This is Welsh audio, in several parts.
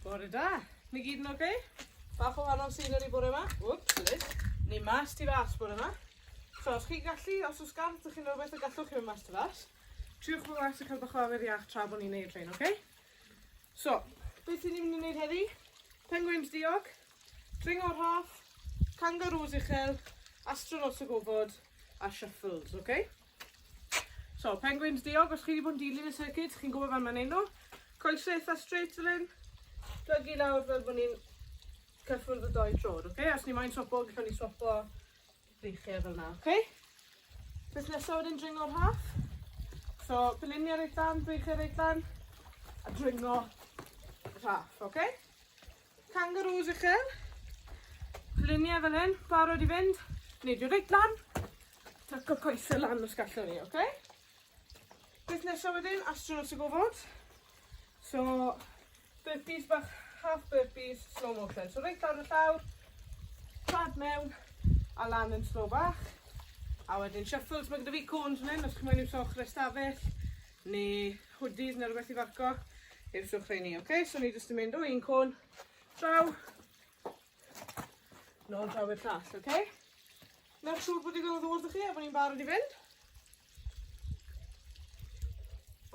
Bore da. Ni gyd yn oce? Okay? Bach o wahanol scenery bore yma. Whoops, Liz. Ni mas ti fas bore yma. So, os chi'n gallu, os oes gan ydych chi'n rhywbeth y gallwch chi fynd mas ti fas, triwch fy mas a cael bach o awyr iach tra bod ni'n neud rhain, oce? Okay? So, beth ni'n mynd i wneud heddi? Penguins diog, dringo rhaff, kangaroos uchel, astronauts o gofod, a shuffles, oce? Okay? So, penguins diog, os chi wedi bod yn dilyn y circuit, chi'n gwybod fan mae'n neud nhw. Coesau eitha straight fel hyn. Plygu lawr fel bod ni'n cyffwrdd y doi trod, oce? Okay? Os ni moyn swapo, gyda ni swapo breichiau fel yna, oce? Okay? Beth nesaf wedyn dringo'r half. So, peliniau reit lan, breichiau reit lan, a dringo rhaff, oce? Okay? Kangaroos uchel. Lluniau fel hyn, barod i fynd. Neidio reit lan. Tuck y coesau lan os gallwn ni, oce? Okay? Beth nesaf wedyn, astronauts y gofod. So, burpees bach, half burpees, slow motion. So, reit lawr y llawr, pad mewn, a lan yn slow bach. A wedyn shuffles, mae gyda fi cones yn hyn, os chi'n mwyn i'w soch restafell. neu hoodies neu rhywbeth i farco i'r trwch rheini. Ok, so ni jyst yn mynd o un côn draw, nôl draw i'r llall, ok? Nawr siŵr bod digon o ddŵr ddech chi a bod ni'n barod i fynd.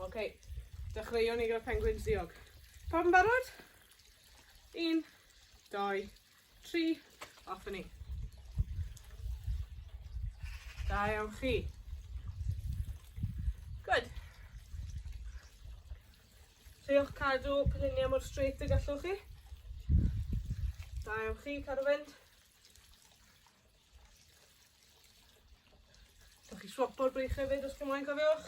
Ok, dechreuwn ni gyda penguins ddiog. Pawb yn barod? Un, doi, tri, off i ni. Da iawn chi. Good. Triwch cadw pilinia mor straight y gallwch chi. Da iawn chi, cadw fynd. Dych chi swopo'r brych hefyd os chi'n moyn cofiwch.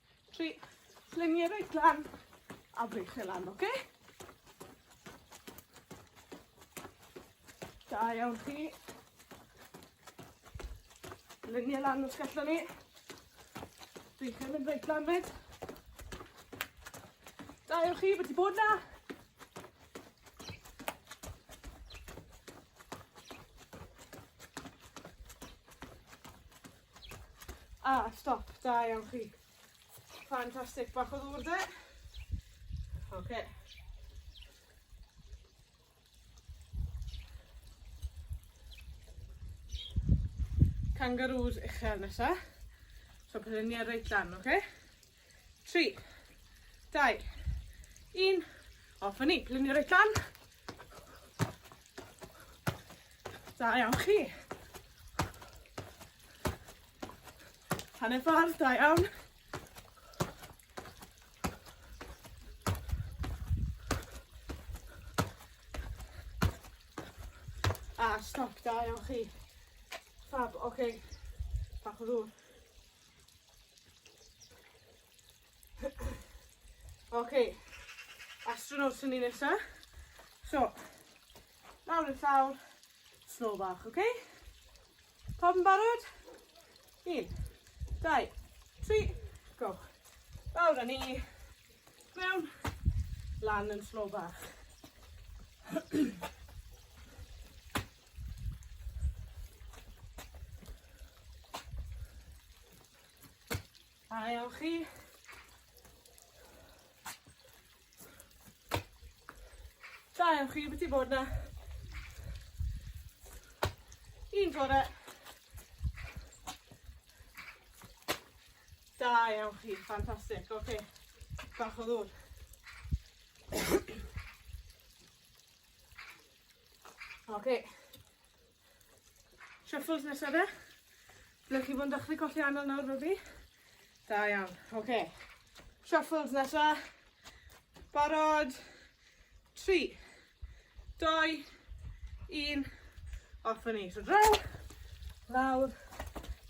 Tri, luniau reit lan, a brych e lan, oce? Okay? Da iawn chi. Luniau lan os gallwn ni. Dwi'n cael mynd reit lan fyd. Da iawn chi, bod ti bod na. A, ah, stop, da iawn chi. Fantastic, bach o ddŵr de. Oce. Okay. Kangaroos uchel nesa. So, prynu ar reit lan, oce? Okay? 3, 2, 1, off a ni, plunio reit lan. Da iawn chi. Hanner ffordd, da iawn. A stop, da iawn chi. Fab, oce. Okay. Bach o ddŵr. Ok, astronaut sy'n ni nesa. So, nawr yn llawr, snow bach, ok? Pob yn barod? Un, dau, tri, go. Lawr â ni, mewn, lan yn snow bach. A iawn chi. Da iawn chi, beth i bod na? Un fore. Da iawn chi, ffantastig, oce. Okay. Bach o ddŵr. Ok. Shuffles nesa de. Ble chi fod yn dechrau colli anol nawr fel fi? Da iawn. Ok. Shuffles nesa. Barod. 3, 2, 1. Off yn ni. So draw, lawr,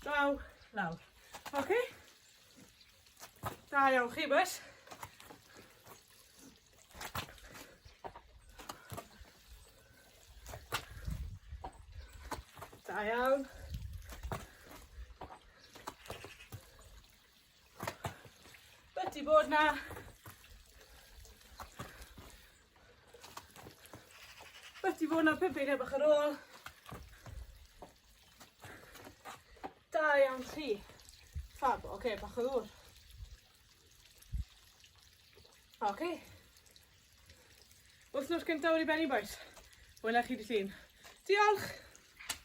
draw, lawr. Ok? Da iawn chi, boys. Da iawn. Wedi bod na Wedi bod na pum beiriau bach ar ôl. Da iawn chi. Fab, oce, okay, bach o ddŵr. Ok. Wythnos cynta wedi benni bois. Wela chi dy llun. Diolch!